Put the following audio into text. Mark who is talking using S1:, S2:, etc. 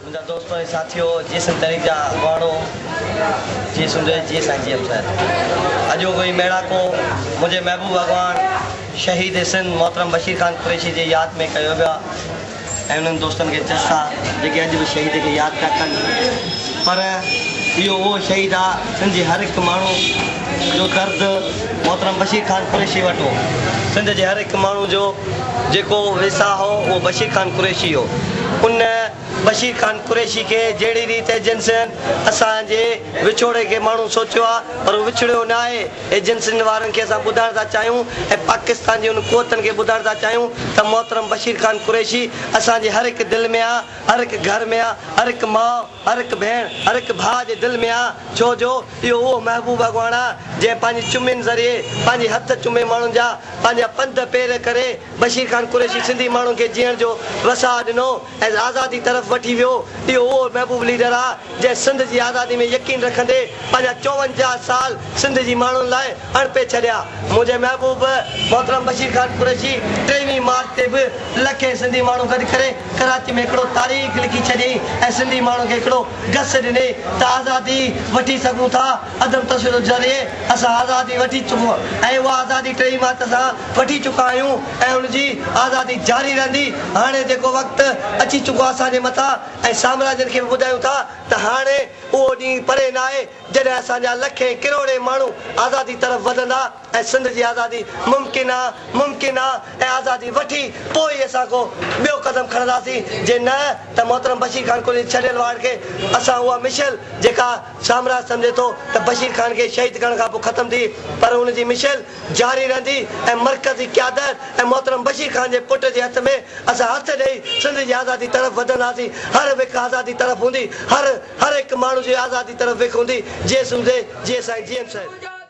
S1: منهنجا دوستو ۽ ساٿيو، جي سنڌ تحريڪ جا اڳواڻو، جي سنڌ، جي سائين جي ايم صاحب، اڄوڪي ميڙاڪو منهنجي محبوب اڳواڻ شهيد سنڌ محترم بشير خان قريشي جي ياد ۾ ڪيو ويا ۽ انهن دوستن کي جسا جيڪي اڄ به شهيد کي ياد پيا ڪن پر اهو اهو شهيد آ سنڌ جي هر هڪ ماڻهو جو درد محترم بشير خان قريشي وٽ هو سنڌ جي هر هڪ ماڻهو جو جيڪو ويساهه هو اهو بشير خان قريشي هو. ان بشير خان قريشي کي جهڙي ريت ايجنسين اسان جي وڇوڙي کي ماڻهو سوچيو آهي پر هو وڇڙيو نه آهي. ايجنسين وارن کي اسان ٻڌائڻ ٿا چاهيون ۽ پاڪستان جي انهن قوتن کي ٻڌائڻ ٿا چاهيون ته محترم بشير خان قريشي اسان جي هر هڪ دل ۾ آهي، هر هڪ گهر ۾ آهي، هر هڪ ماء، هر هڪ ڀيڻ، هر هڪ ڀاء جي دل ۾ آ، ڇو جو اهو اهو محبوب اڳواڻ آ، جنهن پنهنجي چمين ذريعي، پنهنجي هٿ چمي ماڻهن جا پنهنجا پنڌ پير ڪري، بشير خان قريشي سنڌي ماڻهن کي جيئڻ جو وساء ڏنو ۽ آزادي طرف وٺي ويو. اهو اهو محبوب ليڊر آ، جنهن سنڌ جي آزادي ۾ يقين رکندي پنهنجا چوونجاهه سال سنڌ جي ماڻهن لاء اڻپي ڇڏيا. منهنجي محبوب محترم بشير خان قريشي ٽيويهين مارچ تي به لکين سنڌي ماڻهو گڏ ڪري ڪراچي ۾ هڪڙو تاريخ لکي ڇڏيائين ۽ سنڌي ماڻهن کي هڪڙو گس ڏني ته آزادي وٺي سگهون ٿا، عدم تشدد ذريعي اسان آزادي وٺي چڪون ۽ اها آزادي ٽئي مارچ سان وٺي چڪا آهيون ۽ ان جي آزادي جاري رهندي، هاڻي جيڪو وقت اچي چڪو آهي اسان جي مٿان ۽ سامراجين کي به ٻڌايون ٿا ته هاڻي اهو ڏينهن پري ناهي جڏهن اسان جا لکين ڪروڙين ماڻهو آزادي طرف وڌندا. ۽ سنڌ جي آزادي ممڪن آ، ممڪن آ ۽ آزادي وٺي پوء ئي اسان ڪو ٻيو قدم کڻنداسين، جي نه ته محترم بشير خان قليچ ڇڏيل واڙ کي اسان اها مشعل جيڪا سامراج سمجهي ٿو ته بشير خان کي شهيد ڪرڻ کان پوء ختم ٿي پر ان جي مشعل جاري رهندي ۽ مرڪزي قيادت ۽ محترم بشير خان جي پٽ جي هٿ ۾ اسان هٿ ڏئي سنڌ جي آزادي طرف وڌنداسين هر وک آزادي طرف هوندي هر هر هڪ ماڻهو جي آزادي طرف وک هوندي جيسون زي جي سائين جي ايم صاحب.